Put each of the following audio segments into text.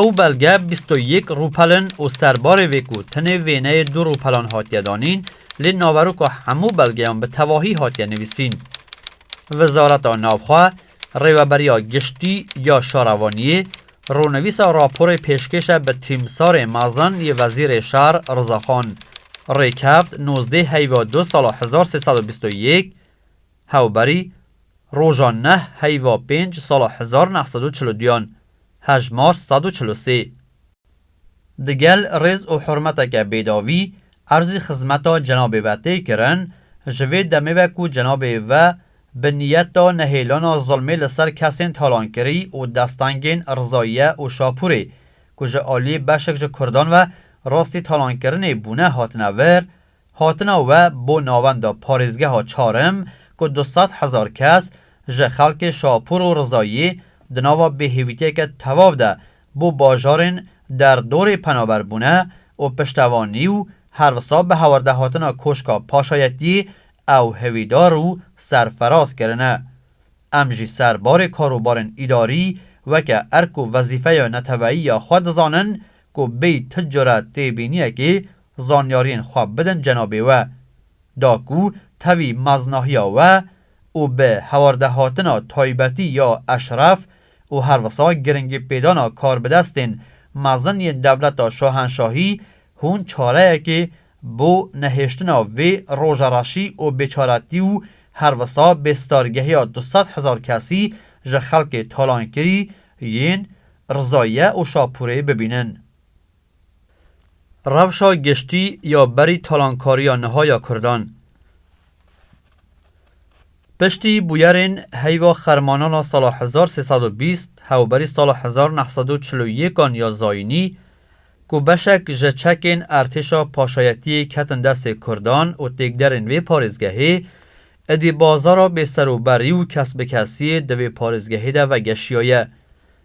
Ew belge bîst û yek rûpelin û serbarê vê ku tenê wêneyê du rûpelan hatiye danîn, lê naveroka hemû belgeyan bi tevahî hatiye nivîsîn. Wizareta Navxwe, Rêweberiya Giştî ya Şarevaniyê, rûnivîsa raporê pêşkêşe bi tîmsarê mezin yê Wezîrê Şar Rizaxan, rêkevt nozdeh heyva du sala hezar sê sed û bîst û yek, Hewberî, roja neh heyva pênc sala hezar neh sed û çil û duyan, hejmar sed û çil û sê. Digel rêz û hurmeteke bêdavî erzî xizmeta cenabê ve tê kirin, ji vê demê ve ku cenabê ve bi niyeta nehêlana zilmê li ser kesên talankirî û destengên Rizayiye û Şapûrê ku ji aliyê beşek ji kurdan ve rastî talankirinê bûne hatine vir, Hatina we bo navenda parêzgeha Çarm ku du sed hezar kes ji xelkê Şapûr û Rizayî di nava bêhêvîtiyeke tevav de bo bajarên derdorê penaber bûne û piştevanî û her wisa bi hawerdehatina Koşka Paşayetî ew hêvîdar û serfiraz kirine. Em jî ser barê karûbarên îdarî weke erk û wezîfeya neteweyî ya xwe dizanin ku bêyî ti cure têbîniyekê Zanyariyên xwe bidin cenabê we. Da ku tevî meznahiya we û bi hewardehatina taybetî ya eşref û her wisa giringîpêdana karbidestên mezin yên dewleta şahenşahî hûn çareyekê bo nehêştina vê rojareşî û bêçaretî û her wisa bêstargehiya du sed hezar kesî ji xelkê talankirî yên Rizayiye û Şapûrê bibînin. Rewşa giştî ya berî talankariya niha ya Kurdan Piştî bûyerên heyva xermanan a sala hezar sê sed û bîst hewberî sala hezar û neh sed û çil û yêkan ya Zayînî ku beşek ji çekên ertêşa paşayetiyê ketin destê Kurdan û têkderên vê parêzgehê, êdî bazara bêserûberî û kesbikesiyê di vê parêzgehê de vegeşiyaye.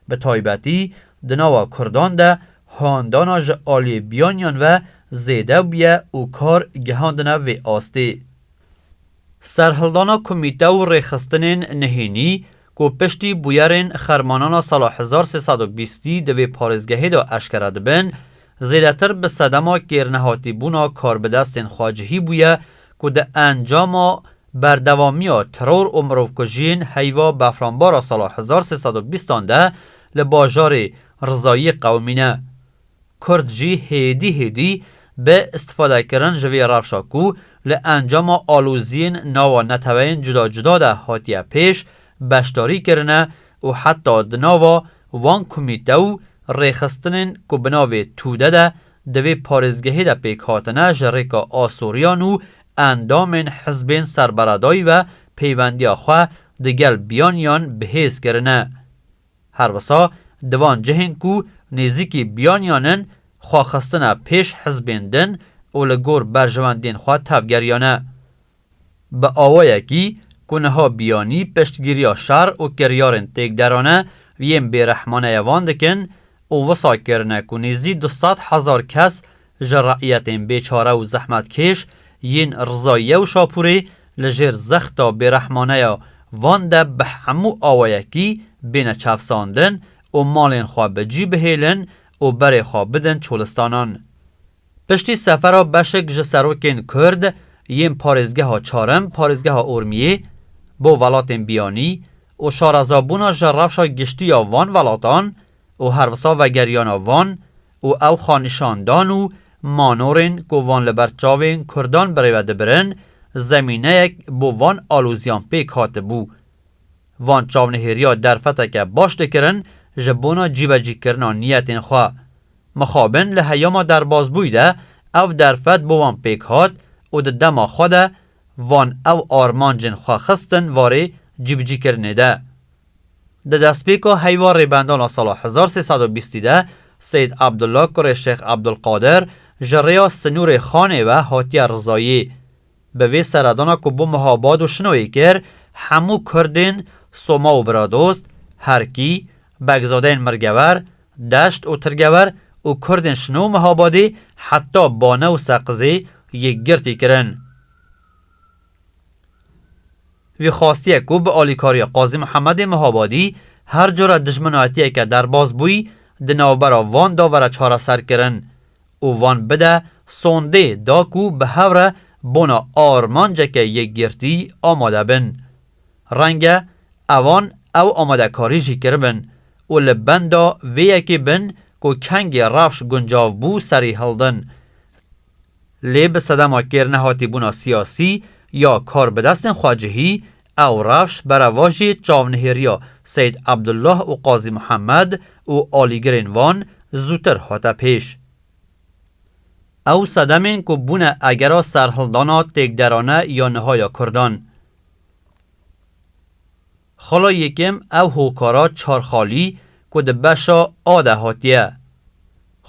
Bi taybetî di nava Kurdan de handana ji aliyê biyaniyan ve zêde bûye û kar gihandine vê astê. Serhildana komîte û rêxistinên nehênî ku piştî bûyerên xermanana sala hezar sê sed û bîstî di vê parêzgehê de eşkere dibin, Zêdetir bi sedema kêrnehatîbûna karbidestên xwe cihî bûye ku di encama berdewamiya teror û mirovkujiyên heyva befranbara sala hezar sê sed û bîst an de li bajarê Rizayî qewimî ne. Kurd jî hêdî hêdî bi îstifadekirin ji vê rewşa ku li encama aloziyên nava neteweyên cuda cuda de hatiye pêş beşdarî kirine û heta di nava van komîte û rêxistinên ku bi navê Tude de di vê parêzgehê de pêk hatine ji rêka asoriyan û endamên hizbên ser beredayî ve peyvendiya xwe di gel biyaniyan bi hêz kirine. Her wisa di van cihên ku nêzîkî biyaniyan in xwe xistine pêş hizbên din û li gor berjewendiyên xwe tevgeriyane. Bi awayekî ku niha biyanî piştgiriya şer û kiryarên têkderane yên bêrehmaneye van dikin û wisa kirine ku nêzî du sed hezar kes ji re'yetên bêçare û zehmetkêş yên Rizayiye û Şapûrê li jêr zexta bêrehmaneya van de bi hemû awayekî bêne çevsandin û malên xwe bi cî bihêlin û berê xwe bidin çolistanan. Piştî sefera beşek ji serokên Kurd yên parêzgeha çarim, parêzgeha Urmiyê, bo welatên biyanî û şarezabûna ji rewşa giştî ya van welatan û herwisa vegeriyana van û ew xanîşandan û manorên ku van li ber çavên Kurdan birêve dibirin, zemîneyek bo van alozîyan pêk hatibû. Van çavnihêriya derfeteke baş dikirin ji bona cîbecîkirina niyetên xwe. Mixabin li heyama derbazbûyî de ev derfet bo wan pêk hat û di dema xwe de van ew armancên xwe xistin varê cîbicîkirinê de. Di destpêka heyva rêbendan a sala hezar sê sed û bîstî de Seyyid Abdullah kurê Şêx Abdulkadir ji rêya sinûrê Xanê ve hatiye rizayî. Bi vê seredana ku bo meha bad û şinoyê kir, hemû Kurdên, Soma û Biradost, Herkî, Begzadeyên Mirgewer, Deşt û Tirgewer û Kurdên Şino û Mehabadê heta Bane û Seqizê yekgirtî kirin. Wî xwastiye ku bi alîkariya Qazî Mihemedê Mihabadî her cure dijminayetiyeke derbas bûyî di navbera van de were çareserkirin. û van bide sondê da ku bi hev re bona armanceke yekgirtî amade bin. Renge evan ew amadekarî jî kiribin û li benda vê yekê bin ku kengê rewş guncav bû serî hildin. Lê bi sedema kêrnehatîbûna siyasî ya karbidestên xwecihî Ew rewş berevo jî çavnihêriya Seyîd Abdullah û Qazî Muhammed û alîgirên wan zûtir hate pêş. Ew sedemên ku bûne egera serhildana têkderane ya niha ya Kurdan. Xala yekem ew hokara çar xalî ku di beşa A de hatiye.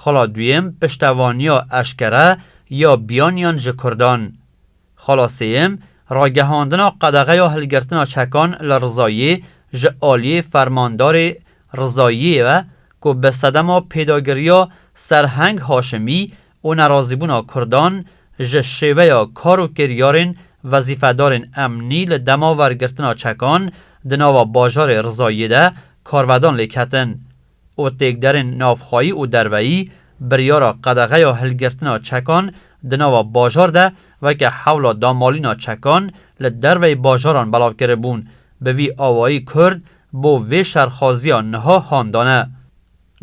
Xala duyem piştevaniya eşkere ya biyaniyan ji Kurdan. Xala sêyem, Ragihandina qedexeya hilgirtina çekan li Rizayê ji aliyê fermandarê Rizayiyê ve ku bi sedema pêdagiriya Serheng Haşimî û nerazîbûna Kurdan ji şêveya kar û kiryarên wezîfedarên emnî li dema wergirtina çekan di nava bajarê Rizayê de karvedan lêketin û têkderên navxweyî û derveyî biryara qedexeya hilgirtina çekan di nava bajar de weke hewla damalîna çekan li derveyî bajaran belav kiribûn, bi vî awayî Kurd bo vê şerxaziya niha han dane.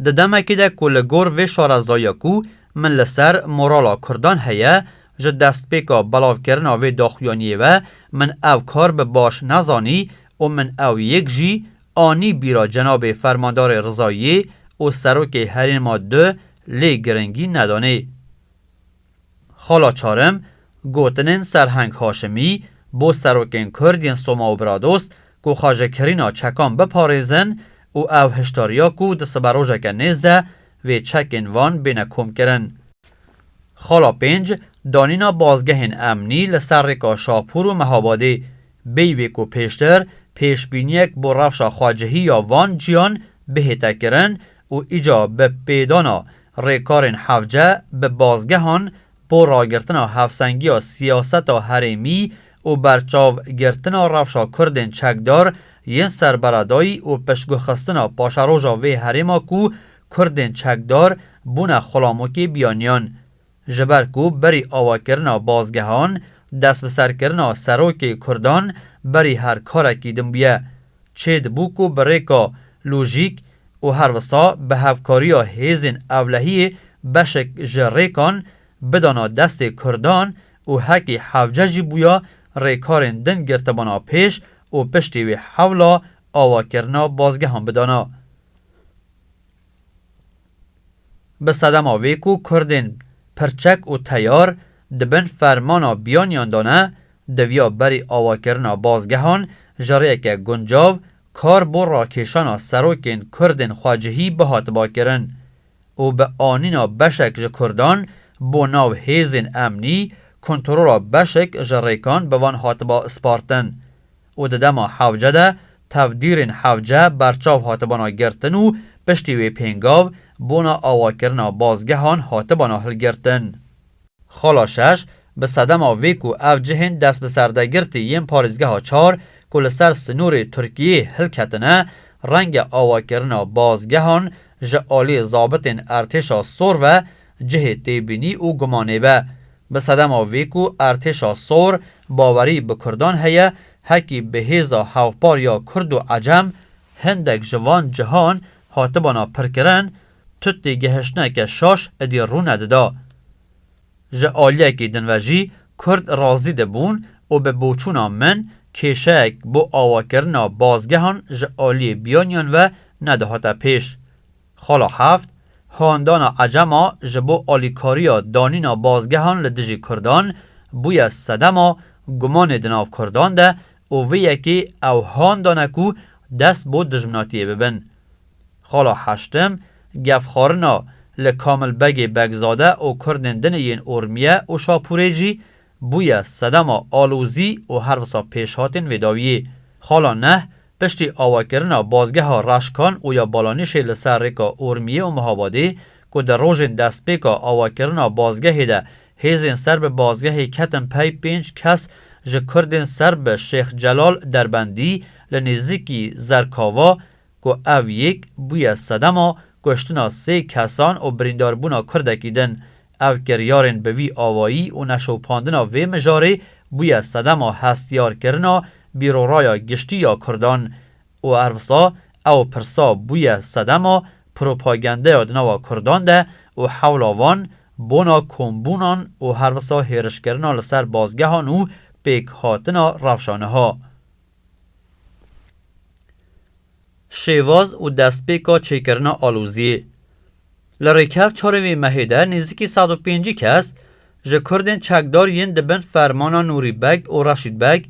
Di demekê de ku li gor vê şarezayiya ku min li ser morala Kurdan heye, ji destpêka belavkirina vê daxuyaniyê ve min ev kar bi baş nezanî û min ew yek jî Anî bîra cenabê Fermandarê Rizayî û Serokê Herêma Du lê girîngî nedanê. Xala Çarim, Gotinên Serheng Haşimî bo serokên Kurd yên Soma û Bradost ku xajekirîna çekan biparêzin û ew hişdariya ku di siberojeke nêz de vê çekên van bêne komkirin. Xala Pênc, Danîna bazgehên emnî li ser rêka Şahpûr û Mehabadê Peyvê ku pêştir pêşbîniyek bo rewşa xwecihî ya van ciyan bihête kirin û îca bi pêdana rêkarên hevce bi bazgehan bo ragirtina hevsengiya siyaseta herêmî û berçav girtina rewşa kurdên çekdar yên serberedayî û piştgihxistina paşeroja vê herêma ku kurdên çekdar bûne xulamokê biyaniyan Ji ber ku berî awakirina bazgehan, destbiserkirina serokê kurdan berî her karekî din bûye. Çê dibû ku bi rêka lojîk û her wisa bi hevkariya hêzên ewlehiyê beşek ji rêkan bidana destê kurdan û hekî Hevce jî bûya rêkarên din girtibana pêş û piştî wê hewla awakirina bazgehan bidana. Bi sedema vê ku Kurdên pirçek û teyar di bin fermana biyaniyan de ne, diviya berî awakirina bazgehan ji rêyeke guncav kar bo rakêşana serokên Kurdên xwecihî bihatiba kirin û bi anîna beşek ji Kurdan bo nav hêzên emnî, kontrola beşek ji rêkan bi van hatiba spartin. û di dema hewce de tevdîrên hewce berçav hatibana girtin û piştî wê pêngav bona awakirina bazgehan hatibana hilgirtin. Xala şeş, Bi sedema vê ku ev cihên destbiserdegirtî yên parêzgeha çar ku li ser sinûrê Tirkiyeyê hilketine, renge awakirina bazgehan ji aliyê zabitên ertêşa sor ve cihê têbînî û gumanê be. Bi sedema vê ku Artêşa Sor bawerî bi Kurdan heye, hekî bi hêza hevpar ya Kurd û Ecem, hindek ji van cihan hatibana pirkirin, tu têgihiştineke şaş idî rûne dida. Ji aliyekî din ve jî Kurd razî dibûn û bi boçûna min kêşeyek bo awakirina bazgehan ji aliyê biyaniyan ve nedihate pêş. Xala heft, Handana ecem a ji bo alîkariya danîna bazgehan li dijî kurdan bûye sedema gumanê di nav kurdan de û vê yekê ew handane ku dest bo dijminatiyê bibin. Xala heştim, Gefxwarina li Kamil Begê Begzade û kurdên din yên Urmiye û Şapûrê jî bûye sedema alozî û her wisa pêşhatên vê dawiyê. Xala neh, Piştî awakirina Bazgeha Reşkan û ya Balanîşê li ser rêka Urmiyê û Mihabadê ku di rojên destpêka awakirina bazgehê de hêzên ser bi bazgehê ketin pey pênc kes ji Kurdên ser bi Şêx Celal Derbendî li nêzîkî Zerkava ku ev yek bûye sedema kuştina sê kesan û birîndarbûna Kurdekî din Ev kiryarên bi vî awayî û neşopandina vê mijarê bûye sedema hestiyarkirina bîroraya giştî ya Kurdan û ervsa ew pirsa bûye sedema propagendeya di nava Kurdan de û hewla wan bona kombûnan û hervisa hêrişkirina li ser bazgehan û pêkhatina rewşa niha. Şêwaz û destpêka çêkirina aloziyê. Li rêkevt çarê vê mehê de nêzîkî sed û pêncî kes ji Kurdên çekdar yên di bin fermana Nûrî Beg û Reşîd Beg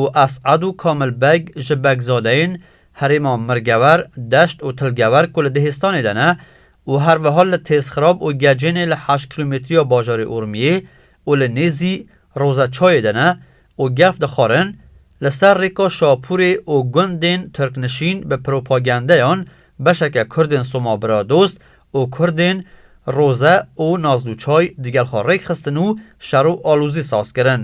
û Es'ed û Kamil Beg ji Begzadeyên herêma Mirgewer, Deşt û Tilgewer ku li Dihêstanê de ne û her wiha li Têzxirab û Gecênê li heşt kîlometriya bajarê Urmiyê û li nêzî Rozeçayê de ne û gef dixwarin li ser rêka Şapûrê û gundên Tirknişîn bi propagendeyan beşeke Kurdên Soma Biradost û Kurdên Roze û Nazlûçay digel xwe rêk xistin û şer û alozî saz kirin.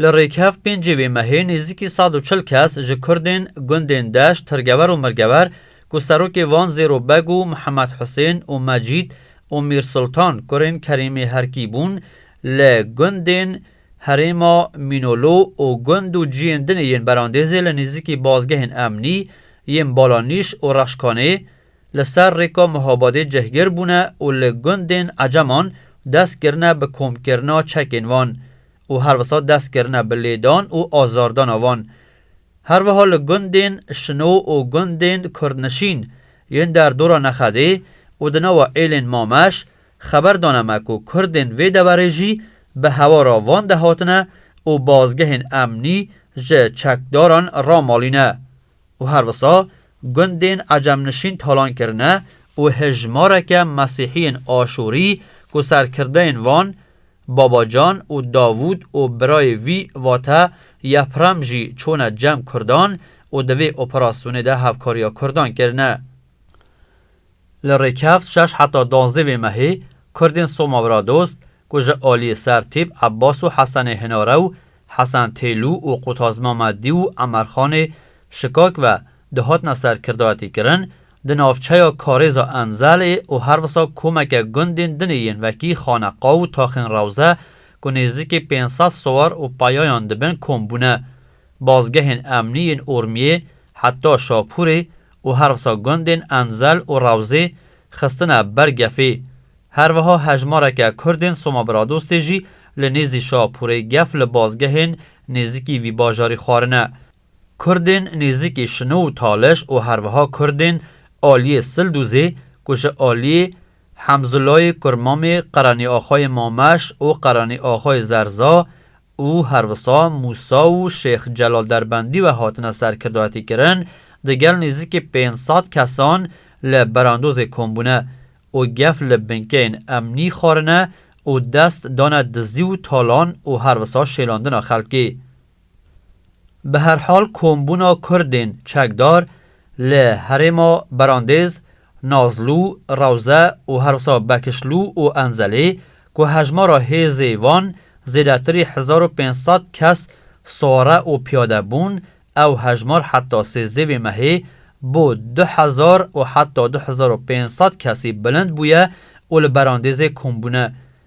Li rêkhev pêncê vê mehê nêzîkî sed û çil kes ji Kurdên gundên Deş, Tirgever û Mirgever ku serokê wan Zêro Beg û Mihemed Husên û Mecîd û Mîrsultan kurên Kerîmê Herkî bûn li gundên Herêma Mînolo û gund û ciyên din ê yên Berandêzê li nêzîkî bazgehên emnî yên Balanîş û Reşkanê li ser rêka Muhabadê cihgir bûne û li gundên Eceman dest kirine bi komkirina çekên wan û her wisa dest kirine bi lêdan û azardana wan. Her wiha li gundên Şino û gundên Kurdnişîn yên derdora Nexedê û di nava êlên Mameş Xeber dane me ku Kurdên vê deverê jî bi hewara van de hatine û bazgehên emnî ji çekdaran ramalîne û her wisa gundên ecemnişîn talan kirine û hejmareke Mesîhiyên Aşûrî ku serkirdeyên wan Babacan û Davûd û birayê wî vate Yeprem jî çûne cem Kurdan û di vê operasyonê de hevkariya Kurdan kirine. Li Rêkevt şeş heta duanzdeh vê mehê Kurdên Soma Biradost ku ji aliyê Sertîp Ebas û Hesenê Hinare û Hesen Têlû û Qutaz Memedî û Emerxanê Şikak ve dihatine serkirdayetîkirin, di navçeya Karêza Enzelê û her wisa komeke gundên dinê yên wekî Xaneqa û Taxên Rewze ku nêzîkî pênc sed siwar û peyayan dibin kom bûne. Bazgehên emnî yên Urmiyê heta Şapûrê û her wisa gundên Enzel û Rawzê xistine ber gefê. Her wiha hejmareke Kurdên Somabiradostê jî li nêzî Şapûrê gef li bazgehên nêzîkî vî bajarî xwarine. Kurdên nêzîkî Şino û Taliş û her wiha Kurdên aliyê Sildûzê ku ji aliyê Hemzûlayê Kurmamê, Qeranîaxayê Mameş û Qeranîaxayê Zerza, û her wisa Mûsa û Şêx Celal Derbendî ve hatine serkirdayetîkirin, di gel nêzîkî pênc sed kesan li berandozê kom bûne û gef li binkeyên emnî xwarine û dest dane dizî û talan û her wisa şêlandina xelkê. Bi her hal kombûna Kurdên çekdar Li herêma Berandêz, Nazlû, Rewze û herwisa Bekişlû û Enzelê ku hejmara hêzê wan zêdetirî hezar û pênc sed kes sore û piyade bûn, ew hejmar heta sêzdeh vê mehê bo du hezar û heta du hezar û pênc sed kesî bilind bûye û li Berandêzê kombûne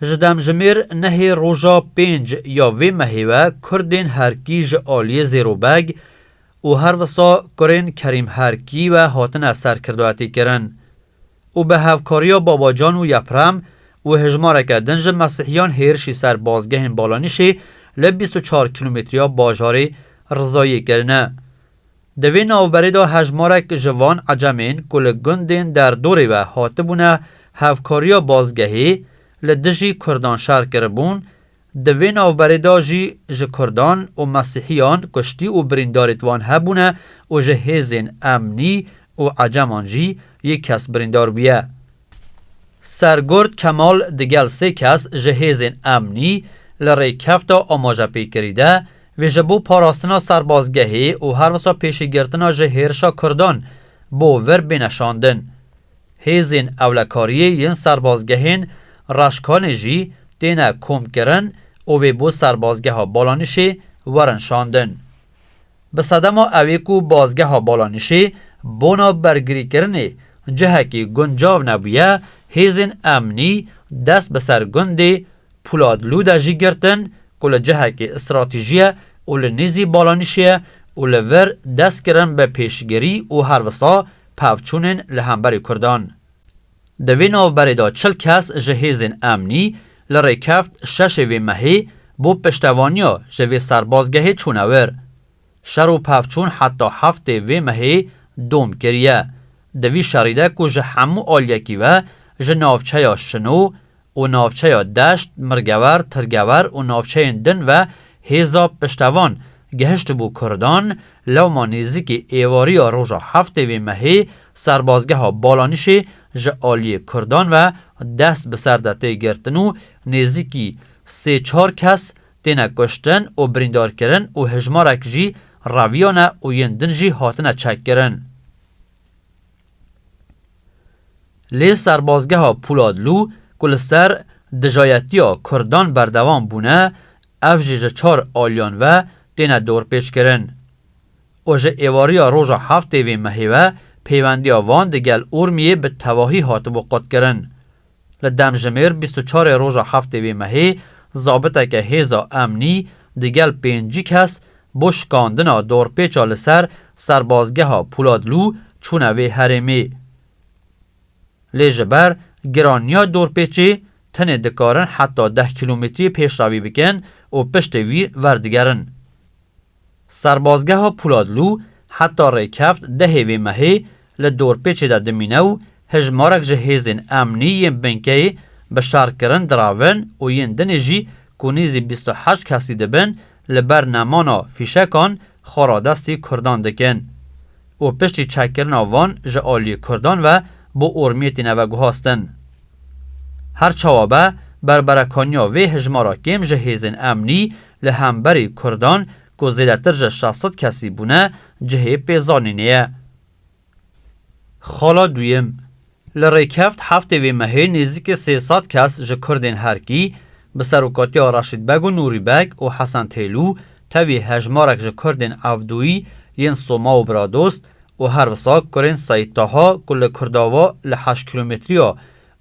Ji demjimêr nehê roja pênc ya vê mehê ve Kurdên Herkî ji aliyê Zêrobeg û her wisa kurên Kerîm Herkî ve hatine serkirdayetîkirin û bi hevkariya Babacan û Yeprem û hejmareke din ji Mesîhiyan hêrişî ser bazgehên Balanîşê li bîst û çar kîlometriya bajarê Rizayê kirine. Di vê navberê de hejmarek ji van ecemên ku li gundên derdorê ve hatibûne hevkariya bazgehê li dijî kurdan şer kiribûn, di vê navberê de jî ji kurdan û mesîhiyan kuştî û birîndarê di wan hebûne û ji hêzên emnî û eceman jî yek kes birîndar bûye. Sergurt Kemal digel sê kes ji hêzên emnî li rêkefta amajepêkirî de wê ji bo parastina serbazgehê û her wisa pêşîgirtina ji hêrişa Kurdan bo vir bêne şandin. Hêzên ewlekariyê yên serbazgehên Reşkanê jî têne komkirin û wê bo serbazgeha Balanişê werin şandin. Bi sedema ew ê ku Bazgeha Balanişê bona bergirîkirinê cihekî guncav nebûye, hêzên emnî dest bi ser gundê Pûladlû de jî girtin ku li cihekî stratîjî ye û li nêzî Balanişê ye û li vir dest kirin bi pêşgirî û her wisa pevçûnên li hemberî Kurdan Di vê navberê de çil kes ji hêzên emnî li Rêkeft şeşê vê mehê bo piştevaniya ji vê serbazgehê çûne wir. Şer û pevçûn heta heftê vê mehê dom kiriye. Di vî şerî de ku ji hemû aliyekî ve ji navçeya Şino, û navçeya Deşt, Mirgewer, Tirgewer û navçeyên din ve hêza piştevan gihiştibû Kurdan, lewma nêzîkî êvariya roja heftê vê mehê serbazgeha Balanîşê ji aliyê Kurdan ve dest bi ser de tê girtin û nêzîkî sê çar kes têne kuştin û birîndarkirin û hejmarek jî reviyane û yên din jî hatine çekkirin. Lê serbazgeha Pûladlû ku li ser dijayetiya Kurdan berdewam bûne, ev jî ji çar aliyan ve têne dorpêçkirin û ji êvariya roja heftê vê mehê ve pêwendiya van digel Urmiyê bi tevahî hatibû qutkirin. Li demjimêr bîst û çarê roja heftê wê mehê zabiteke hêza emnî di gel pêncî kes bo şikandina dorpêça li ser serbazgeha Pûladlû çûne vê herêmê. Lê ji ber giraniya dorpêçê tenê dikarin heta deh kîlometrî pêşrevî bikin û piştê wî werdigerin. Serbazgeha Pûladlû heta rêkeft dehê vê mehê li dorpêçê de dimîne û hejmarek ji hêzên emnî yên binkeyê bi şerkirin diravin û yên dinê jî ku nêzî bîst û heşt kesî dibin li ber nemana fîşekan xwe radestî Kurdan dikin û piştî çekkirina van ji aliyê Kurdan ve bo ormiyê tîne veguhastin. Her çawa be, berberekaniya vê hejmara kêm ji hêzên emnî Li hemberî Kurdan ku zêdetir ji şeş sed kesî bûne cihê pêzanînê ye. Xala duyem, Li rêkeft heftê vê mehê nêzîkî sê sed kes ji Kurdên Herkî, bi serokatiya Reşîd Beg û Nûrî Beg û Hesen Têlû, tevî hejmarek ji Kurdên Evdûyî yên Soma û Bradost û her wisa kurên Seyîd Taha ku li Kurdava li heşt kîlometriya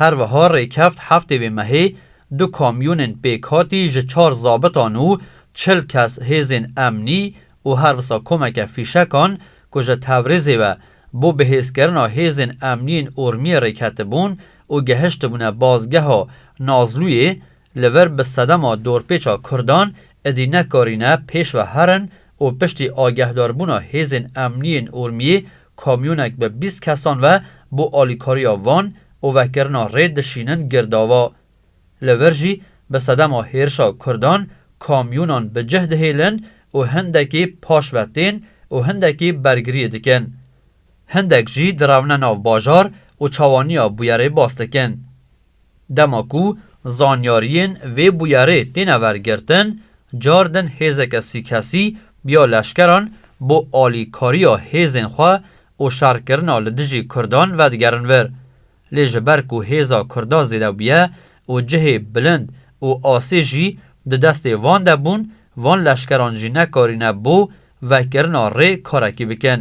Her wiha rêkeft heftê vê mehê du kamyonên pêkhatî ji çar zabitan û çil kes hêzên emnî û her wisa komeke fîşekan ku ji Tewrîzê ve bo bihêzkirina hêzên emniyên Urmiyê rêketibûn û gehiştibûne bazgeha Nazlûyê Li vir bi sedema dorpêça Kurdan êdî nekarîne pêş ve herin û piştî agehdarbûna hêzên emniyê yên Urmiyê kamyonek bi bîst kesan ve bo alîkariya Van û vekirina rê dişînin Girdava. Li vir jî bi sedema hêrişa Kurdan kamyonan bi cih dihêlin û hindekî paş ve tên û hindekî bergiriyê dikin. Hindek jî direwne nav bajar û çawaniya bûyerê bas dikin. Dema ku zanyariyên vê bûyerê têne wergirtin, car din hêzeke sîkesî ya leşkeran bo alîkariya hêzên xwe û şerkirina li dijî kurdan vedigerin vir. Lê ji ber ku hêza kurda zêde bûye û cihê bilind û asê jî di destê van de bûn, van leşkeran jî nekarîne bo vekirina rê karekî bikin.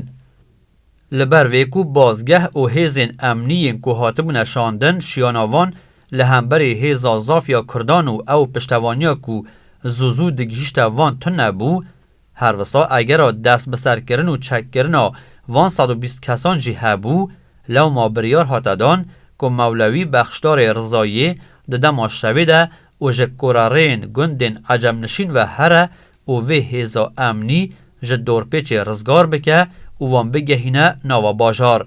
Li ber vê ku bazgeh û hêzên emnî yên ku hatibûne şandin şiyana van li hemberî hêza zaf ya Kurdan û ew piştevaniya ku zû zû digihîşte van tune bû, her wisa egera destbiserkirin û çekkirina van sed û bîst kesan jî hebû, lewma biryar hate dan ku Mewlewî Bexşdarê Rizayiyê di dema şevê de û ji korerêyên gundên ecemnişîn ve here û vê hêza emnî ji dorpêçê rizgar bike û wan bigehîne nava bajar.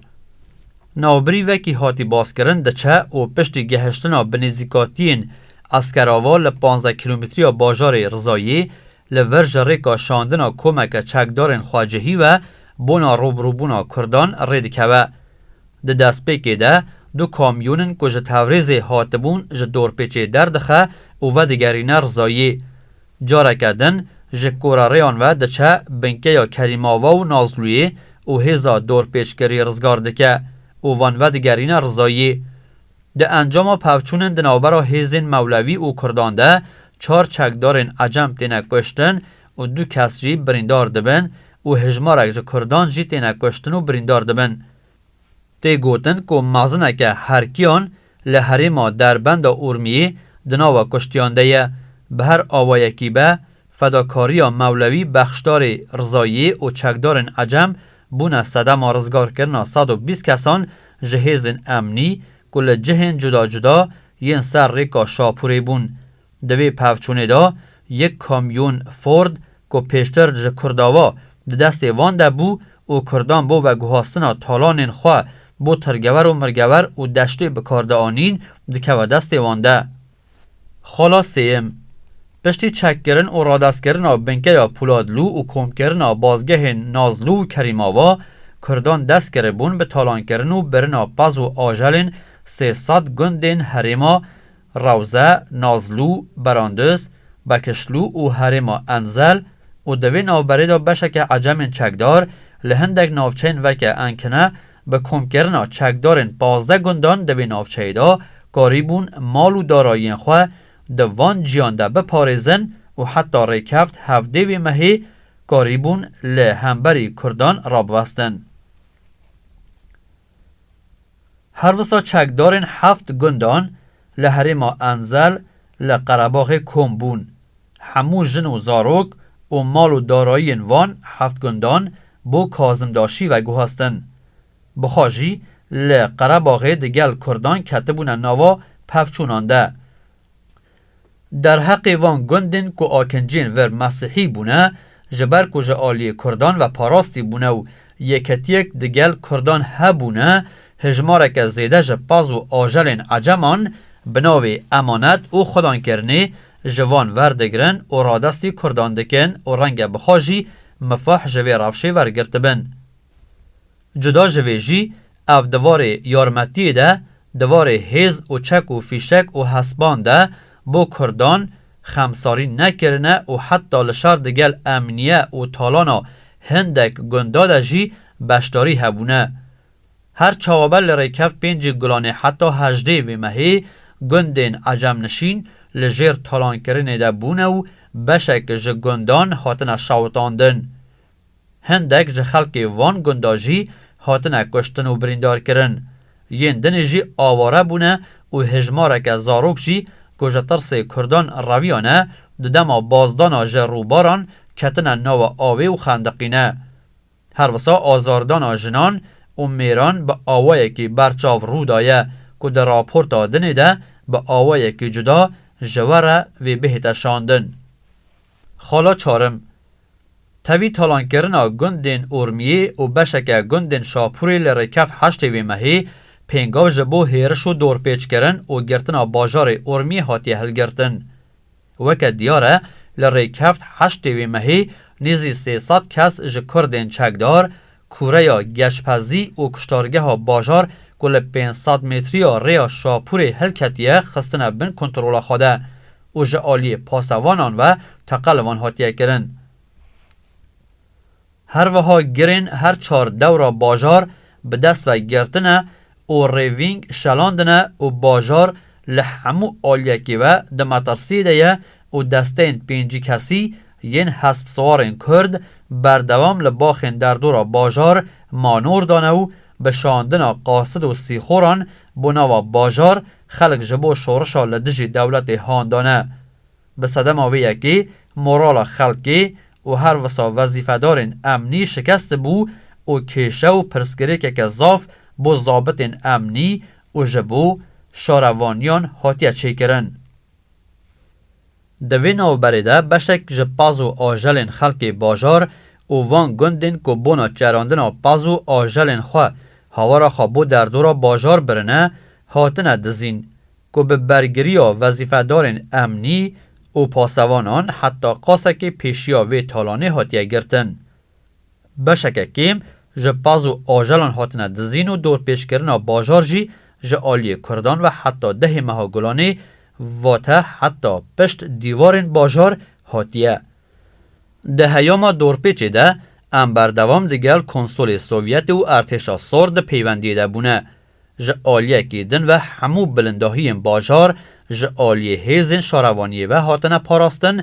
Navbirî vekî hatî baskirin diçe û piştî gehiştina bi nêzîkatiyên Eskerava li panzdeh kîlometriya bajarê Rizayê li vir ji rêka şandina komeke çekdarên xwecihî ve bona rûbirûbûna kurdan rê dikeve. Di destpêkê de du kamyonin ku ji Tewrêzê hatibûn ji dorpêçê derdixe û vedigerîne Rizayê. Careke din ji Korarêyan ve diçe binkeya Kerîmava û Nazlûyê û hêza dorpêçkirî rizgar dike û van vedigerîne Rizayê. Di encama pevçûnên di navbera hêzên Mewlevî û Kurdan de çar çekdarên ecem têne kuştin û du kes jî birîndar dibin û hejmarek ji Kurdan jî têne kuştin û birîndar dibin. Tê gotin ku mezineke herkiyan li herêma Derbenda Urmiyê di nava kuştiyan de ye. Bi her awayekî be, fedakariya Mewlewî Bexşdarê Rizayiyê û çekdarên Ecem bûne sedema rizgarkirina sed û bîst kesan ji hêzên emnî ku li cihên cuda cuda yên ser rêka Şapûrê bûn. Di vê pevçûnê de yek kamyon Ford ku pêştir ji Kurdava di destê van de bû û Kurdan bo veguhastina talanên xwe bo tirgewer û mirgewer û deştê bi kar de anîn dikeve destê wan de. Xala sêyim. Piştî çekkirin û radestkirina binkeya Pûladlû û komkirina bazgehên Nazlû û Kerîmava, Kurdan dest kiribûn bi talankirin û birina pez û ajelên sê sed gundên herêma Rawze, Nazlû, Beranduz, Bekişlû û herêma Enzel û di vê navberê de beşeke Ecemên çekdar li hindek navçeyên veke Enkine bi komkirina çekdarên pazdeh gundan di vê navçeyê de karîbûn mal û darayiyên xwe di van ciyan de biparêzin û heta rêkeft hevdê vê mehê karîbûn li hemberî kurdan rabwestin. Her wisa çekdarên heft gundan li herêma Enzel li Qerebaxê kom bûn. Hemû jin û zarok û mal û darayiyên van heft gundan bo Kazimdaşî veguhastin. Bixa jî li Qerebaxê digel kurdan ketibûne nava pevçûnan de. Derheqê van gundên ku akincên vir mesîhî bûne, ji ber ku ji aliyê kurdan ve parastî bûne û yeketiyek di gel kurdan hebûne, hejmareke zêde ji paz û ajelên eceman bi navê emanet û xwedangkirinê ji van verdigirin û radestî kurdan dikin û renge bixwe jî mifah ji vê rewşê wergirtibin. Cuda ji vê jî, ev di varê yarmetiyê de, di varê hêz û çek û fîşek û hespan de bo Kurdan, xemsarî nekirine û heta li şer digel emniye û talana hindek gunda de jî beşdarî hebûne. Her çawaber li Rêkev Pêncî Gulanê heta hejdê vê mehê gundên ecemnişîn li jêr talankirinê de bûne û beşek ji gundan hatine şewitandin. Hindek ji xelkê van gunda jî hatine kuştin û birîndarkirin. Yên dinê jî aware bûne û hejmareke zarok jî ku ji tirsê kurdan reviyane di dema bazdana ji rûbaran ketine nawe avê û xendiqîne. Her wisa azardana jinan û mêran bi awayekî berçav rû daye ku di raporta dinê de bi awayekî cuda ji we re vê bihête şandin. Xala Çarim, Tevî talankirina gundên Urmiyê û beşeke gundên Şapûrê li rêkef heştê vê mehê pêngav ji bo hêriş û dorpêçkirin û girtina bajarê Urmiyê hatiye hilgirtin. Weke diyar e li rêkeft heştê vê mehê nêzî sê sed kes ji kurdên çekdar, Kureya Geşpezî û Kuştargeha Bajar ku li pênc sed metriya rêya Şapûrê hilketiye xistine bin kontrola xwe de û ji aliyê pasevanan ve teqe li wan hatiye kirin. Herwiha girên her çar dewra bajar bi dest ve girtine û rêvîng şelandine û bajar li hemû aliyekî ve di metirsiyê de ye û desteyên pêncî kesî yên hespsiwarên Kurd berdewam li baxên derdora bajar manor dane û bi şandina qasid û sîxoran bo nava bajar xelk ji bo şorişa li dijî dewletê handane Bi sedema vê yekê morala xelkê û her wisa wezîfedarên emnî şikest dibû û kêşe û pirsgirêkeke zaf bo zabitên emnî û ji bo şarevaniyan hatiye çêkirin. Di vê navberê de beşek ji paz û ajelên xelkê bajar û van gundên ku bona çerandina paz û ajelên xwe hawara xwe bo derdora bajar birine, hatine dizîn, ku bi bergiriya wezîfedarên emnî û pasevanan heta qasekê pêşiya vê talanê hatiye girtin. Beşeke kêm ji paz û ajelan hatine dizîn û dorpêçkirina bajar jî ji aliyê Kurdan ve heta dehê meha Gulanê vate heta pişt dîwarên bajar hatiye. Di heyama dorpêçê de em berdewam digel konsolê Sovyetê û Ertêşa Sor di peywendiyê de bûne Ji aliyekî din ve hemû bilindahiyên bajar ji aliyê hêzên şarevaniyê ve hatine parastin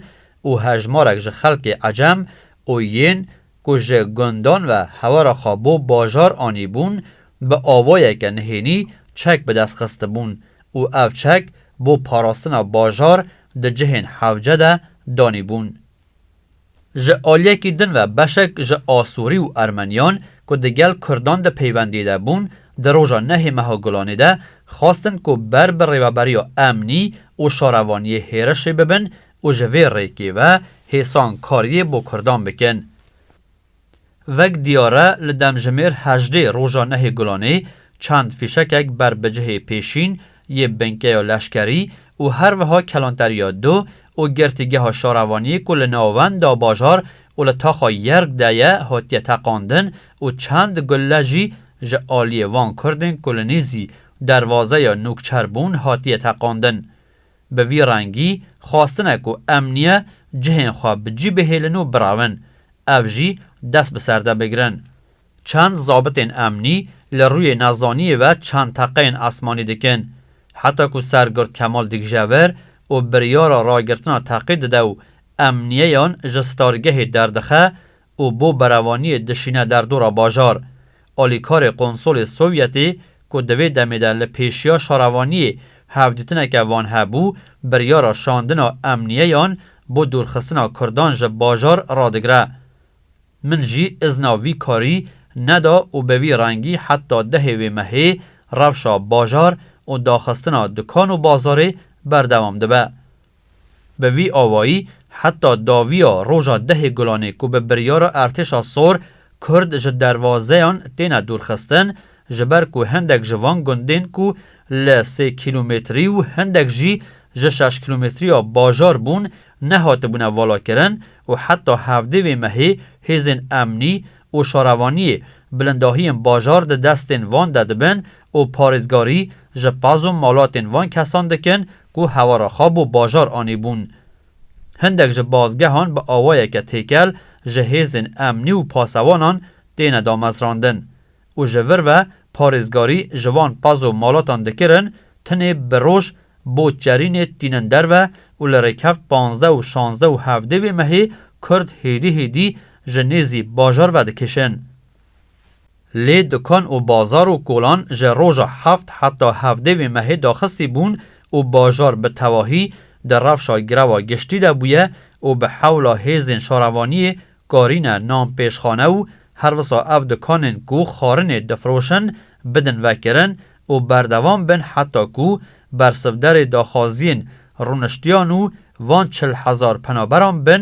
û hejmarek ji xelkê ecem û yên ku ji gundan ve hewera xwe bo bajar anîbûn bi avayeke nihênî çek bi dest xistibûn û ev çek bo parastina bajar di cihên hewce de danîbûn. Ji aliyekî din ve beşek ji Asurî û Ermeniyan ku di gel Kurdan di peywendî de bûn di roja nehê meha Gulanê de xwestin ku ber bi rêveberiya emnî û şarevaniyê hêrişê bibin û ji vê rêkê ve hêsan kariyê bo Kurdan bikin. Vek diyar e li demjimêr hejdê roja nehê Gulanê çend fîşekek ber bi cihê pêşîn yê binkeya leşkerî û her wiha kelanteriya du û girtîgeha şarevaniyê ku li navenda bajar û li taxa Yerg de ye hatiye teqandin û çend gulle jî ji aliyê van kurdên ku li nîzî dervazeya Nûkçer bûn hatiye teqandin. Bi vî rengî xwestin e ku em niye cihên xwe bi cî bihêlin û birawin, ev jî dest bi ser de bigirin. Çend zabitên emnî li rûyê nezaniyê ve çend teqeyên esmanî dikin. Heta ku Sergird Kemal digije vir û biryara ragirtina teqê dide û emniyeyan ji stargehê derdixe û bo berevaniyê dişîne derdora bajar. Alîkarê Konsolê Sovyetê ku di vê demê de li pêşiya şarevaniyê hevdîtineke van hebû, biryara şandina emniyeyan bo dûrxistina Kurdan ji bajar radigre. Min jî izna vî karî neda û bi vî rengî heta dehê wê mehê rewşa bajar û daxistina dukan û bazarê berdewam dibe. Bi vî awayî heta dawiya roja dehê gulanê ku bi biryara Ertêşa Sor Kurd ji derwazeyan têne dûrxistin ji ber ku hindek ji van gundên ku li sê kîlometrî û hindek jî ji şeş kîlometriya bajar bûn nehatibûne valakirin û heta hevdê vê mehê hêzên emnî û şarevaniyê bilindahiyên bajar di destên van de dibin û parêzgarî ji pez û malatên van kesan dikin ku hewara xwe bo bajar anîbûn. Hindek ji bazgehan bi awayeke têkel ji hêzên emnî û pasewanan têne damezrandin û ji vir ve parêzgarî ji van pazo malatan dikirin tinê bi roj bo çerînê tînin derve û li rêkevt panzdeh û şanzdeh û hevdê vê mehê kurd hêdî hêdî ji nêzî bajar vedikişin. Lê dukan û bazar û kolan ji roja heft heta hevdê vê mehê daxistî bûn û bajar bi tevahî di rewşa grewa giştî de bûye û bi hewla hêzên şarevaniyê karîne nan pêşxane û herwisa ev dukanên ku xarinê difiroşin bidin vekirin û berdewam bin heta ku bersivderê daxwaziyên rûniştiyan û van çil hezar penaberan bin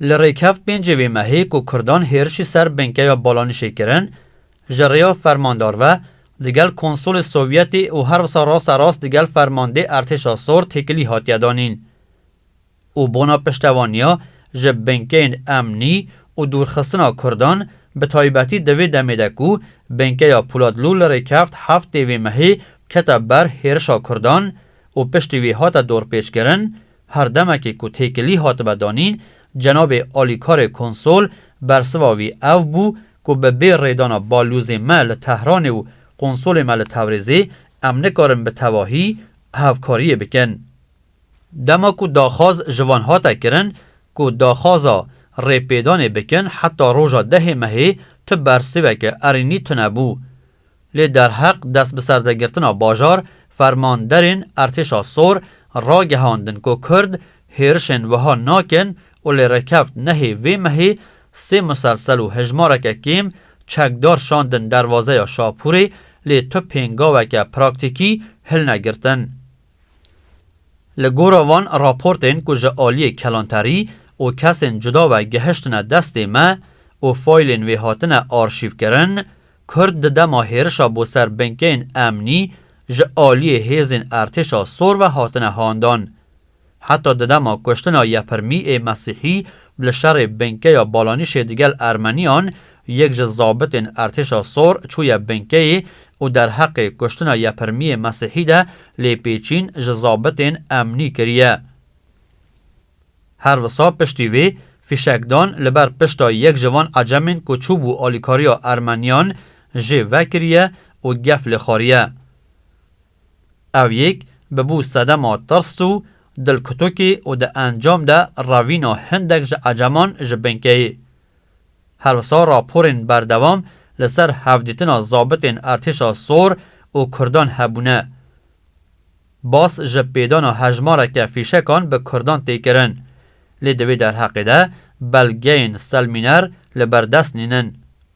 Li Rêykev pêncê vê mehê ku Kurdan hêrişî ser Binkeya Balanişê kirin, ji rêya fermandar ve, digel konsolê Sovyetê û her wisa rasta rast digel fermandê Ertêşa Sor têkilî hatiye danîn û bona piştevaniya ji binkeyên emnî û dûrxistina Kurdan bi taybetî di vê demê de ku Binkeya Poladlû li Rêykevt heftê vê mehê kete ber hêrişa Kurdan û piştî wê hate dorpêçkirin Her demekê ku têkilî hatibe danîn, cenabê alîkarê konsol bersiva wî ev bû ku bi bê rêdana balûzê me li Tehranê û konsolê me li Tewrêzê em nikarin bi tevahî hevkariyê bikin. Dema ku daxwaz ji van hate kirin ku daxwaza rêpêdanê bikin heta roja dehê mehê tu bersiveke erênî tunebû. Lê derheq destbiserdergirtina bajar, fermanderên Ertêşa Sor ragihandin ku Kurd hêrişên wiha nakin û lê rêkeft nehê vê mehê sê muselsel û hejmareke kêm çekdar şandin derwazeya Şapûrê lê tu pêngaweke praktîkî hilne girtin. Li gora van raportên ku ji aliyê kelanterî û kesên cuda ve gehiştine destê me û faylên wê hatine arşîvkirin, Kurd di dema hêrişa bo ser binkeyên emnî ji aliyê hêzên Ertêşa Sor ve hatine handan. Heta di dema kuştina Yepirmî ê Mesîhî li şerê binkeya Balanîşê digel Ermeniyan Yek ji zabitên Ertêşa Sor çûye binkeyê û derheqê kuştina Yepirmiyê Mesîhî de lêpêçîn ji zabitên emnî kiriye. Her wisa piştî vê, fîşekdan li ber pişta yek ji van ecemên ku çûbû alîkariya Ermeniyan jê vekiriye û gef lê xwariye. Ew yek bibû sedema tirs û dilkutikê û di encam de revîna hindek ji Ecaman ji binkeyê. Her wisa raporên berdewam li ser hevdîtina zabitên Ertêşa Sor û Kurdan hebûne. Bas ji pêdana hejmareke fîşekan bi Kurdan tê kirin. Lê di vê derheqê de belgeyên selmîner li ber dest nînin.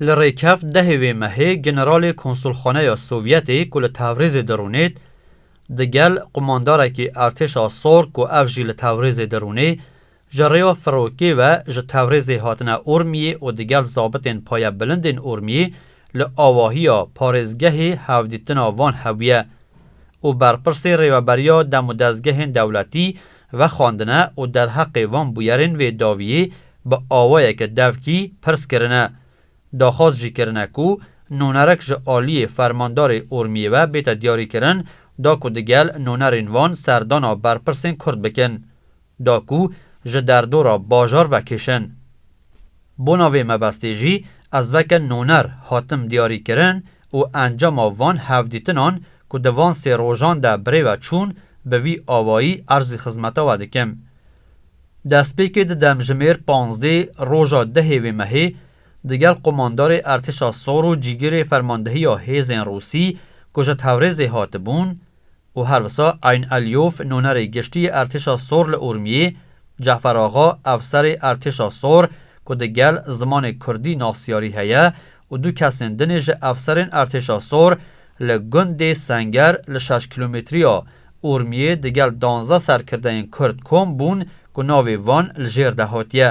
Li Rêkef dehê vê mehê generalê konsulxaneya Sovyetê ku li Tewrêzê dirûnê di gel qumandarekî Ertêşa Sor ku ev jî li Tewrêzê dirûnê ji rêya Firokê ve ji Tewrêzê hatine Urmiyê û di gel zabitên payebilindên Urmiyê li awahiya parêzgehê hevdîtina van hebûye û berpirsê rêveberiya demûdezgehên dewletî Vexwendine û derheqê van bûyerên vê daviyê bi awayeke devkî pirs kirine. Daxwaz jî kirine ku nûnerek ji aliyê fermandarê Urmiyê ve bête diyarîkirin da ku digel nûnerên van serdana berpirsên Kurd bikin da ku ji derdora bajar vekêşin. Bona vê mebestê jî ez veke noner hatim diyarîkirin û encama van hevdîtinan ku di van sê rojan de birê ve çûn bi vî awayî erzî xizmeta we dikim. Destpêkê di demjimêr panzdê roja dehê vê mehê digel qomandarê Ertêşa Sor û cîgirê fermandehiya hêzên Rûsî ku ji Tewrêzê hatibûn, û her wisa Eyn Elyof nûnerê giştî yê Ertêşa Sor li Urmiyê, Cefer Axa efserê Ertêşa Sor ku di gel zimanê Kurdî nasyarî heye û du kesên din ê ji efserên Ertêşa Sor li gundê Senger li şeş kîlometriya Urmiyê di gel danzdeh serkirdeyên Kurd kom bûn ku navê van li jêr de hatiye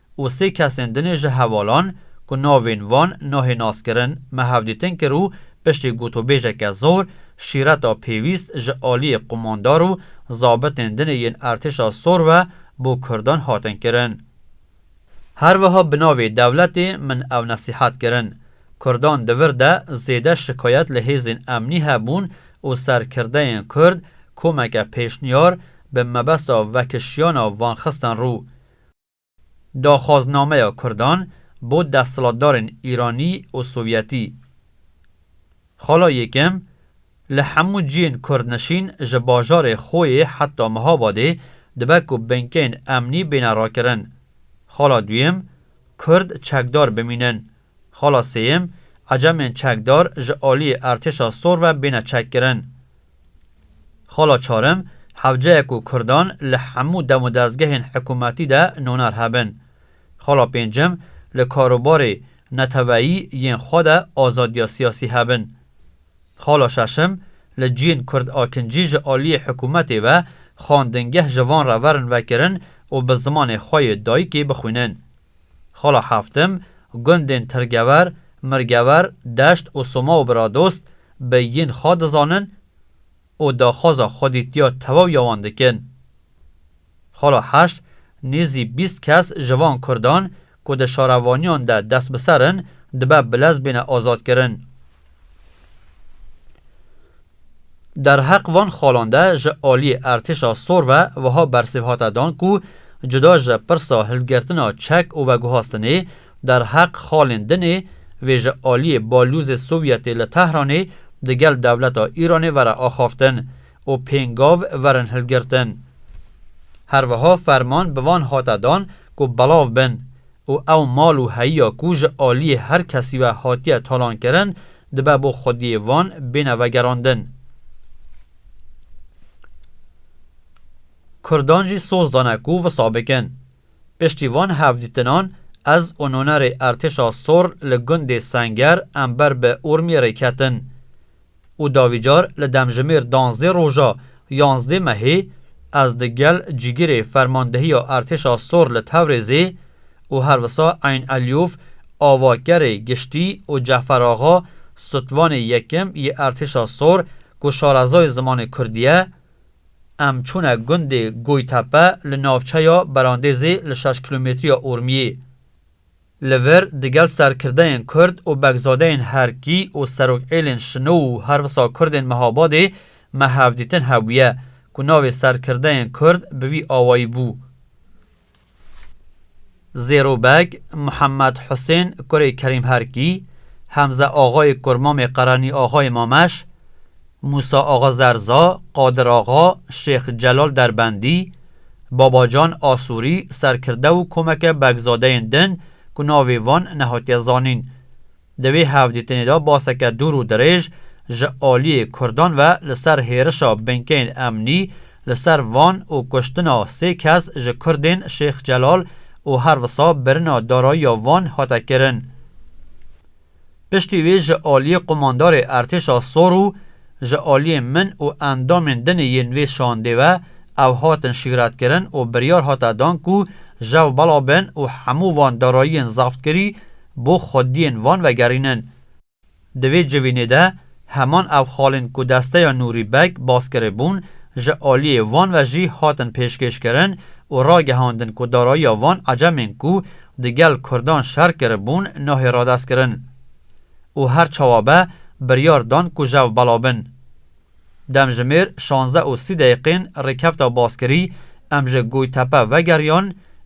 û sê kesên dinê ji hevalan ku navên wan nahê naskirin me hevdîtin kir û piştî gotûbêjeke zor şîreta pêwîst ji aliyê qumandar û zabitên dinê yên Ertêşa Sor ve bo kurdan hatin kirin. Her wiha bi navê dewletê min ew nesîhet kirin. Kurdan di vir de zêde şikayet li hêzên emnî hebûn û serkirdeyên kurd komeke pêşniyar bi mebesta vekişiyana wan xistin rû. Daxwaznameya Kurdan bo desthilatdarên Îranî û Sovyetî. Xala Yêkem, Li hemû ciyên kurdnişîn ji bajarê xwe yê heta Mihabadê dibe ku binkeyên emnî bêne rakirin. Xala Duyem, Kurd çekdar bimînin. Xala sêyem, Ecemên çekdar ji aliyê Ertêşa Sor ve bêne çekkirin. Xala çarem, Hewceye ku Kurdan li hemû dem û dezgehên hikûmetî de noner hebin. Xala pêncem, Li karûbarê neteweyî yên xwe de azadiya siyasî hebin. Xala şeşem, Li ciyên Kurd a kincî ji aliyê hikûmetê ve xwendingeh ji van re verin vekirin û bi zimanê xwe yê dayikê bixwînin. Xala Heftim, Gundên Tirgever, Mirgever, Deşt û Soma û Biradost bi yîn xwe dizanin û daxwaza xwedîtiya tewaw ya wan dikin. Xala Heşt, Nêzî bîst kes ji van Kurdan ku di şarevaniyan de dest bi ser in, dibe bilez bêne azadkirin. Derheq van xalan de ji aliyê Ertêşa Sor ve wiha bersîv hate dan ku cuda ji pirsa hilgirtina çek û veguhastinê, derheq xalên din ê vê ji aliyê Balyozê Sovyetê li Tehranê digel dewleta Îranê vere axaftin û pêngav verin hilgirtin. Herwiha ferman bi van hate dan ku belav bin û ew mal û heyiya ku ji aliyê her kesî ve hatiye talankirin dibe bo xwediyê van bêne vegerandin. Kurdan jî soz dane ku wisa bikin. Piştî van hevdîtinan ez û nonerê Ertêşa Sor li gundê Senger em ber bi Urmiyê rê ketin. û davî car li demjimêr danzdê roja yanzdê mehê ez di gel cîgirê Fermandehiya Ertêşa Sor li Tewrêzê û her wisa Eyn Elyûf avakerê giştî û Cefer Axa sutvanê yekim yê Ertêşa Sor ku şarezoyê zimanê kurdî ye em çûne gundê Goytepe li navçeya Berandêzê li şeş kilometriya Urmiyê. Li vir digel serkirdeyên kurd û begzadeyên herkî û serokêlên şino û her wisa kurdên Mehabadê me hevdîtin hebûye ku navê serkirdeyên kurd bi vî awayî bû. Zêro Beg, Muhemed Husên kurê Kerîm Herkî, Hemze Axayê kur mamê Qerenî Axayê Mameş, Mûsa Axa Zerza, Qadir Axa, Şêx Celal Derbendî, Babacan Asûrî, serkirde û komeke Begzadeyên din ku navê wan nehatiye zanîn. Di vê hevdîtinê de baseke dûr û dirêj ji aliyê Kurdan ve li ser hêrişa binkeyên emnî li ser Van û kuştina sê kes ji Kurdên Şêx Celal û her wisa birina darayiya Van hate kirin. Piştî wê ji aliyê qumandarê Ertêşa Sor û ji aliyê min û endamên din ê yên vê şandê ve ew hatin şîretkirin û biryar hate dan ku jew bela bin û hemû van darayiyên zextkirî bo xwediyên van vegerînin. Di vê civînê de Heman ev xalên ku desteya Nûrî Beg bas kiribûn, ji aliyê van ve jî hatin pêşkêşkirin û ragihandin ku darayiya van ecemên ku di gel kurdan şer kiribûn nahê radestkirin û her çawa be biryar dan ku jev bela bin. Demjimêr şazdeh û sî deqîqên rêkefta baskirî em ji Goytepe vegeriyan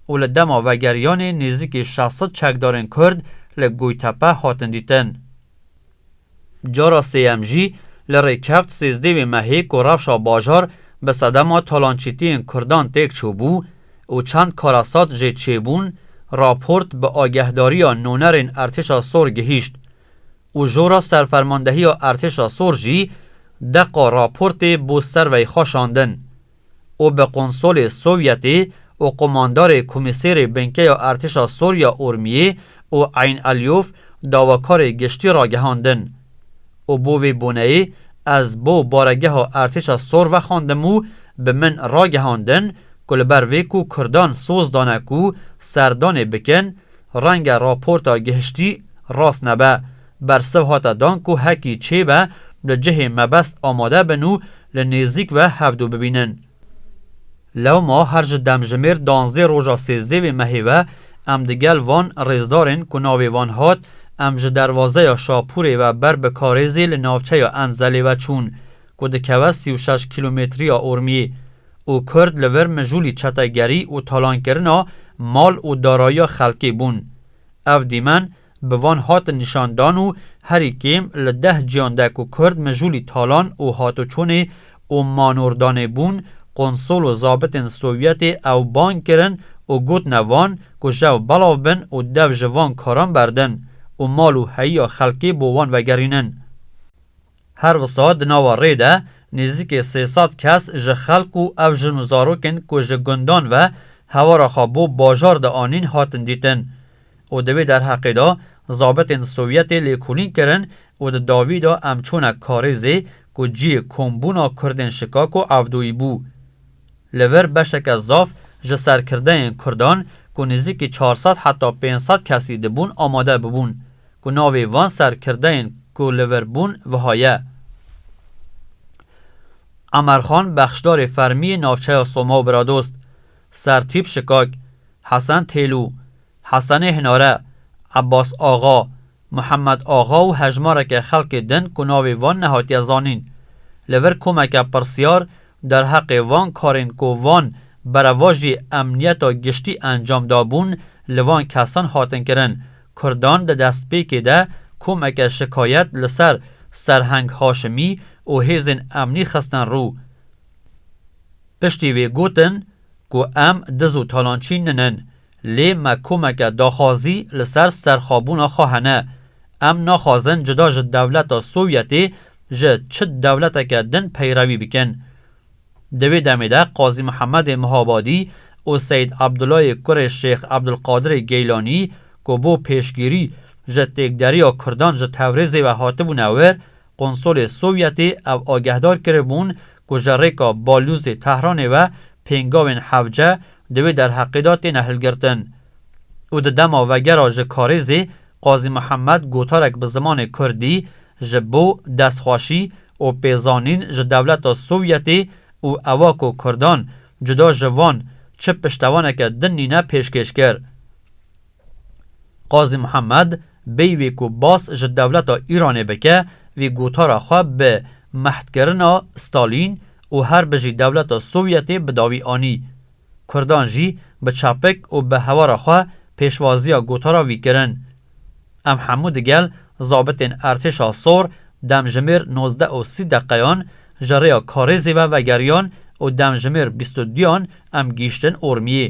û li dema vegeriyanê nêzîkî şeş sed çekdarên kurd li Goytepe hatin dîtin. Cara sêyem jî li rêkevt sêzdeh wê mehê ku rewşa bajar bi sedema talançîtiyên Kurdan têk çûbû û çend karasat jê çêbûn, raport bi agehdariya nûnerên Ertêşa Sor gihîşt û jora serfermandehiya Ertêşa Sor jî deqa raportê bo servey xwe şandin. û bi konsolê Sovyetî û komandarê komîsêrê Binkeya Ertêşa Sorya Urmiyê û Eyn Elyof dawakarê giştî ragihandin û bo vê boneyê ez bo baregeha Ertêşa Sor vexandim û bi min ragihandin ku li ber vê ku kurdan soz dane ku serdanê bikin renge raporta gihiştî rast nebe Bersiv hate dan ku hekî çêbe li cihê mebest amade bin û li nêzîk ve hevdu bibînin. Lewma her ji demjimêr danzdê roja sêzdê vê mehê ve em di gel van rêzdarên ku navê wan hat em ji derwazeya Şapûrê ve ber bi karêzê li navçeya Enzelê ve çûn ku dikeve sî û şeş kîlometriya Urmiyê û Kurd li vir mijûlî çetegerî û talankirina mal û darayiya xelkê bûn. Ev dîmen bi van hatin nîşan dan û herî kêm li deh ciyan de ku Kurd mijûlî talan û hatoçûnê û manûrdanê bûn, konsol û zabitên Sovyetê ew bang kirin û gotine van ku jew belav bin û dev ji van karan berdin û mal û heyiya xelkê bo wan vegerînin. Her wisa di nava rê de nêzîkê sê sed kes ji xelk û ev jin û zarokên ku ji gundan ve hewara xwe bo bajar de anîn hatin dîtin û di vê derheqê de zabitên Sovyetê lêkolîn kirin û di dawî de em çûne Karêzê ku cihê kombûna Kurdên Şikako Evdoyî bû. Li vir beşeke zaf ji serkirdeyên kurdan ku nêzîkî çar sed heta pênc sed kesî dibûn amade bûbûn ku navê van serkirdeyên ku li vir bûn wiha ye, Emerxan bexşdarê fermiyê navçeya Soma û Bradost, Sertîp Şikak, Hesen Têlû, Hesenê Hinare, Ebas Axa, Muhemed Axa û hejmareke xelkê din ku navê wan nehatiye zanîn, li vir komeke pirsyar derheqê van karên ku van berevajî emniyeta giştî encam dabûn li van kesan hatin kirin, Kurdan di destpêkê de komeke şikayet li ser Serheng Haşimî û hêzên emnî xistin rû. Piştî vê gotin ku em diz û talançî ninin, Lê me komeke daxwazî li ser serxwebûna xwe hene. Em naxwazin cuda ji dewleta Sovyetê ji çi dewleteke din peyrewî bikin. Di vê demê de Qazî Mihemedê Mihabadî û Seyîd Ebdulayê kurê Şêx Ebdulqadirê Geylanî ku bo pêşgirî ji têkderiya kurdan ji Tewrêzê ve hatibûne wir, Konsolê Sovyetê ew agehdar kiribûn ku ji rêka balûzê Tehranê ve pêngavên hevce di wê derheqê de têne hilgirtin û di dema vegera ji karêzê Qazî Mihemed gotarek bi zimanê kurdî ji bo destxweşî û pêzanîn ji dewleta Sovyetê û ewa ku kurdan cuda ji van çi piştevaneke din nîne pêşkêş kir. Qazî Muhammed bêyvê ku bas ji dewleta Îranê bike vê gotara xwe bi mehdkirina Stalîn û her bijî dewleta Sovyetê bi dawî anî. Kurdan jî bi çapik û bi hewara xwe pêşwaziya gotara vî kirin. Em hemû digel zabitên Ertêşa Sor demjimêr nozdeh û sî deqeyan ji rêya Karêzê ve vegeriyan û demjimêr bîst û duyan em gihîştin Ormiyê.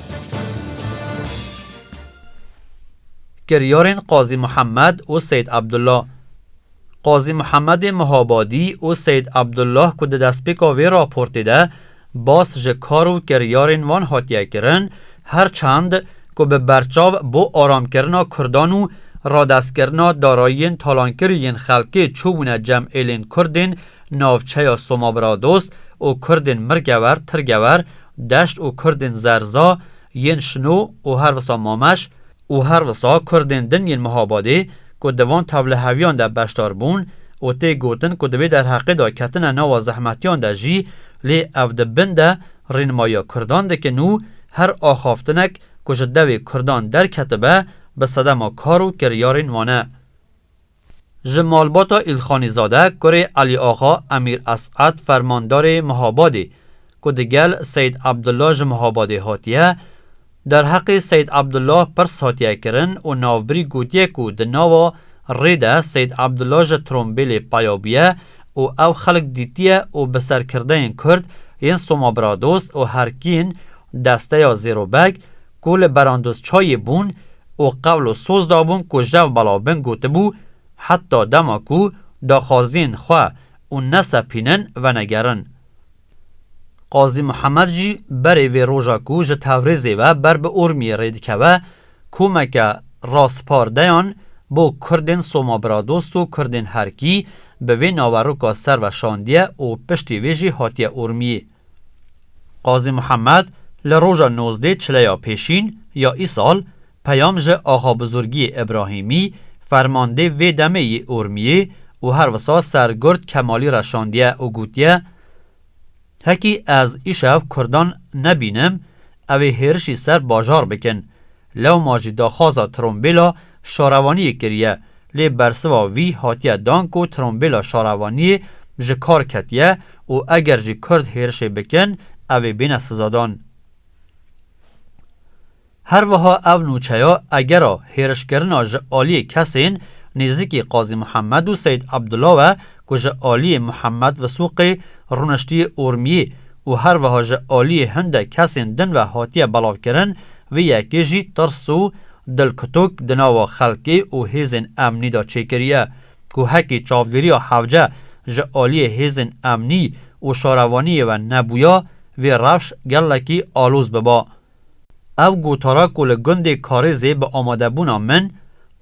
Kiryarên Qazî Muhemed û Seyîd Abdullah Qazî Muhemedê Mihabadî û Seyîd Abdullah ku di destpêka vê raportê de bas ji kar û kiryarên wan hatiye kirin, her çend ku bi berçav bo aramkirina Kurdan û radestkirina darayiyên talankirî yên xelkê çûbûne cem êlên Kurdên Navçeya Somabiradost û kurdên Mirgewer, Tirgewer, Deşt û kurdên Zerza yên Şino û her wisa Mameş û her wisa kurdên din yên Mihabadê ku di van tevliheviyan de beşdar bûn û tê gotin ku di vê derheqê de ketine nava zehmetiyan de jî lê ev di bin de rînmayiya kurdan dikin û her axaftinek ku ji dewê kurdan derketibe bi sedema kar û kiryarên wan e. Ji malbata Îlxanîzade kurê Elîaxa Emîr Es'ed fermandarê Mihabadê ku di gel Seyîd Ebdullah ji Mihabadê hatiye, derheqê Seyîd Ebdullah pirs hatiye kirin û navbirî gotiye ku di nava rê de Seyîd Ebdullah ji trombêlê peya bûye û ew xelk dîtiye û bi serkirdeyên Kurd yên Somabiradost û herkîn desteya Zêrobeg ku li berandozçayê bûn û qewl û soz dabûn ku jev belav bin gotibû, Heta dema ku daxwaziyên xwe û nesepînin venegerin. Qazî Mihemed jî berê vê roja ku ji Tewrêzê ve ber bi Urmiyê rê dikeve, komeke raspardeyan bo Kurdên Somabiradost û Kurdên Herkî bi vê naveroka ser ve şandiye û piştî vê jî hatiye Urmiyê. Qazî Muhemed li roja nozdê çileya pêşîn ya îsal peyam ji Axabizurgiyê Îbrahîmî, fermandê vê demê yê Urmiyê û her wisa Sergurt Kemalî re şandiye û gotiye, Hekî ez îşev kurdan nebînim, Ew ê hêrişî ser bajar bikin. Lewma jî daxwaza trombêla şarewaniyê kiriye, lê bersiva wî hatiye dan ku trombêla şarewaniyê ji kar ketiye û eger jî Kurd hêrişê bikin, ew ê bêne sizadan. Herwiha ev nûçeya egera hêrişkirina ji aliyê kesên nêzîkî Qazî Mihemed û Seyîd Ebdulawe ku ji aliyê Muhammed Visuqê rûniştiye Urmiyê û herwiha ji aliyê hindek kesên din ve hatiye belavkirin, vê yekê jî tirs û dilkutuk di nava xelkê û hêzên emnî de çêkiriye ku hekî çavdêriya hevce ji aliyê hêzên emnî û şarevaniyê ve nebûya, vê rewş gelekî aloz biba. Ev gotara ku li gundê Karêzê bi amadebûna min,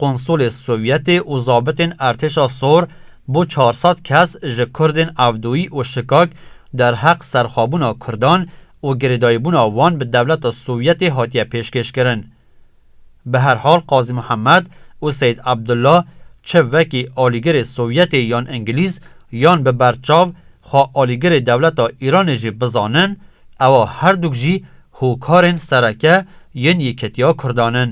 konsulê Sovyetê û zabitên Ertêşa Sor bo çar sed kes ji Kurdên Evdoyî û Şikak derheq serxwebûna Kurdan û girêdayîbûna wan bi dewleta Sovyetê hatiye pêşkêşkirin. Bi her hal Qazî Mihemed û Seyîd Ebdullah çi wekî alîgirê Sovyetê yan Îngilîz yan bi berçav xwe alîgirê dewleta Îranê jî bizanin, ewa herdûk jî hokarên sereke yên Yekîtiya Kurdan in.